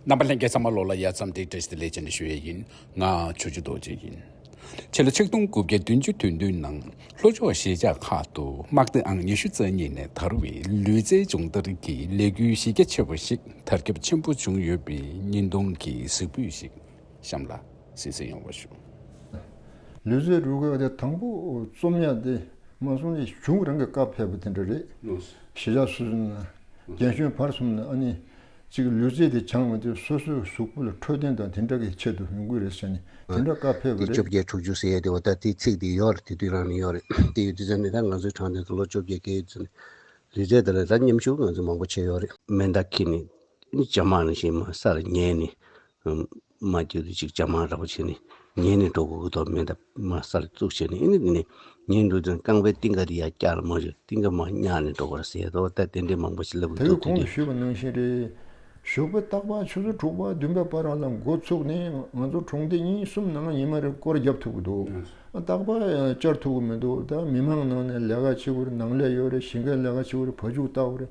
རྣམ་པ་ལྷན་རྒྱས་ཚང་མ་བློ་ལ་ཡལ་ཙམ་དེ་བྲིས་ཏེ་ལས་བྱེད་ནས་ཞུ་ཡས་ཡིན་ང་ཆོས་རྒྱུད་རྡོ་རྗེ་ཡིན་ཁྱེད་ལ་ཆིག་སྟོང་དགུ་བརྒྱ་བདུན་ཅུ་དོན་བདུན་ནང་ལྷོ་ཕྱོགས་གཞིས་ཆགས་ཁག་ཏུ་དམག་སྡེ་ཨང་ཉི་ཤུ་རྩ་གཉིས་ནས་དར་བའི་ལུས་རྩལ་སྦྱོང་བརྡར་གྱི་ལས་འགུལ་གཞི་རྒྱ་ཆེ་བ་ཞིག་དར་ཁྱབ་ཆེན་པོ་བྱུང་ཡོད་པའི་བརྙན་ཐུང་གི་གཟིགས་འབུལ་ཞིག་གཤམ་ལ་ཟིན་བསྲིང་ཡོང་བ་ཞུ། ལུས་རྩལ་རུས་རྒོད་དེ་དང་པོ་རྩོམ་ཡག་དེ་མ་སོང་ལས་གཞུང་རང་གི་བཀའ་ཕེབས་པ་དེ་འདྲ་རེད། གཞིས་ཆགས་སུ། རྒན་གཞོན་བར་གསུམ་ནི་ཨ་ནི་གཅིག་ལུས་རྩལ་དེ་འཆང་མི་དེ་སོ་སོའི་གཟུགས་པོ་ལ་འཕྲོད་བསྟེན་དང་དེ་འདྲ་གི་ཆེད་དུ་ཡོང་གི་རེད་ཟེར་ནས་དེ་འདྲ་བཀའ་ཕེབས་པ་འདི་བཅོ་རེད། བརྒྱད་དྲུག་ཅུ་ཟེར་ཡས་དེ་འོ་ད་དེ་ཚིག་དེ་ཡོད་རེད་དེ་དུས་རང་ནས་ཡོད་རེད་དེ་ཡོད་དེ་ཟེར་ནས་ད་ང་ཚོའི་དྲང་བདེན་དུ་ལོ་བཅོ་བརྒྱད་བསྐྱལ་ཡོད་ཟེར་ནས་ལུས་རྩལ་དེ་ལ་ད་མཉམ་ཞུགས་ང་ཚོས་མང་པོ་བྱས་ཡོད་རེད། མེ་མདའ་ཁྱེར་ནས་ཇེ་མང་ནས་ཇེ་མང་སར་ཉལ་ནས་མ་གྱུར་ཅིག་ཅང་མ་རག་པ་བྱས་ནས་ཉལ་ནས་འགྲོ་གོ་དོགས་མེད་འདབ་མ་སར་བཙུགས་བྱས་ནས་ཨེ་ནི་འདི་ནས་ངའི་འགྲོ་དོན་རྐང་པའི་རྟིང་ག་འདི་ཡར་བཀྱགས་ལ་མ་བཞུར་རྟིང་ག་མ་བསྙགས་ནས་འགྲོ་གོ་ཟེར་དོ་ལྟ་རྟེན་འབྲེལ་མང་པོ་ཞིག་ལབ་དགོས་དོགས་དུས་དུས། བདེ་ལེགས་གོང་དུ་ཞུས་པ་ནང་བཞིན་རེད། ཞོགས་པ་སྟག་ལྤགས་ཆུ་ཚོད་དྲུག་པ་བདུན་པའི་བར་ལ་མགོ་བཙུགས་ནས་ང་ཚོ་གྲོང་སྡེ་གཉིས་གསུམ་ནང་ཉི་མ་རེར་སྐོར་བརྒྱབ་ཐུབ་ཀྱི་འདུག་སྟག་ལྤགས་བཅར་ཐུབ་ཀྱི་མི་འདུག་ད་མི་མང་ནང་ནས་ལས་ཀ་ཆེ་བོར་ནང་ལས་ཡོད་རེད་ཞིང་ཁའི་ལས་ཀ་ཆེ་བོར་བ་ཕྱུགས་བཏགས་པ་རེད།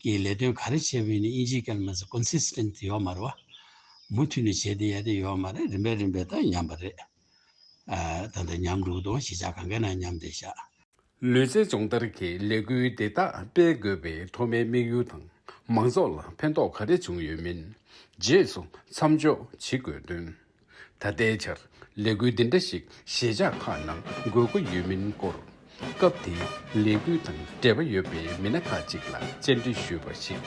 ཀྱི་ལས་དོན་ག་རེ་བྱས་པའི་ནི་དབྱིན་ཇིའི་སྐད་ལ་མ་ཟད Consistent ཡོད་མ་རེད་བ། མུ་མཐུད་ནས་བྱས་ཏེ་ཡས་ཏེ་ཡོད་མ་རེད་རིམ་པས་རིམ་པས་ད་ཉམས་པ་རེད། ད་ད་ཉམས་འགྲོ་དང་གཞིས་ཆགས་གང་གའི་ནང་ཉམས་ཏེ་བཞག། ལུས་རྩལ་སྦྱོང་བརྡར་གྱི་ལས་འགུལ་འདི་དག་སྤེལ་དགོས་པའི་ཐོག་མའི་དམིགས་ཡུལ་དང་མང་ཚོགས་ལ་ཕན་ཐོགས་ག་རེ་བྱུང་ཡོད་མིན་རྗེས་སུ་མཚམས་འཇོག་བྱེད་དགོས་དོན། ད་ལྟའི་ཆར་ལས་འགུལ་འདི་འདྲ་ཞིག་གཞིས་ཆགས་ཁག་ནང་དགོས་མཁོ་ཡོད་མིན་སྐོར། སྐབས་དེའི་ལས་འགུལ་དང་འབྲེལ་བ་ཡོད་པའི་མི་སྣ་ཁག་ཅིག་ལ་བཅར་འདྲི་ཞུས་པར་གཞིས་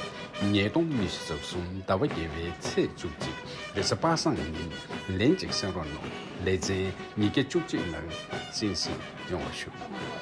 ཉེས་སྟོང་སྨི་བཞི་རྩ་གསུམ་ཟླ་བ་བརྒྱད་པའི་ཚེས་བཅུ་གཅིག་རེས་གཟའ་པ་སངས་ཉིན་ལན་གཅིག་སེང་རོག་ནོར་ལེ་ཚན་ཉིས་བརྒྱ་བཅུ་གཅིག་ནང་གཅིན་སིང་ཡོང་བ་ཞུ།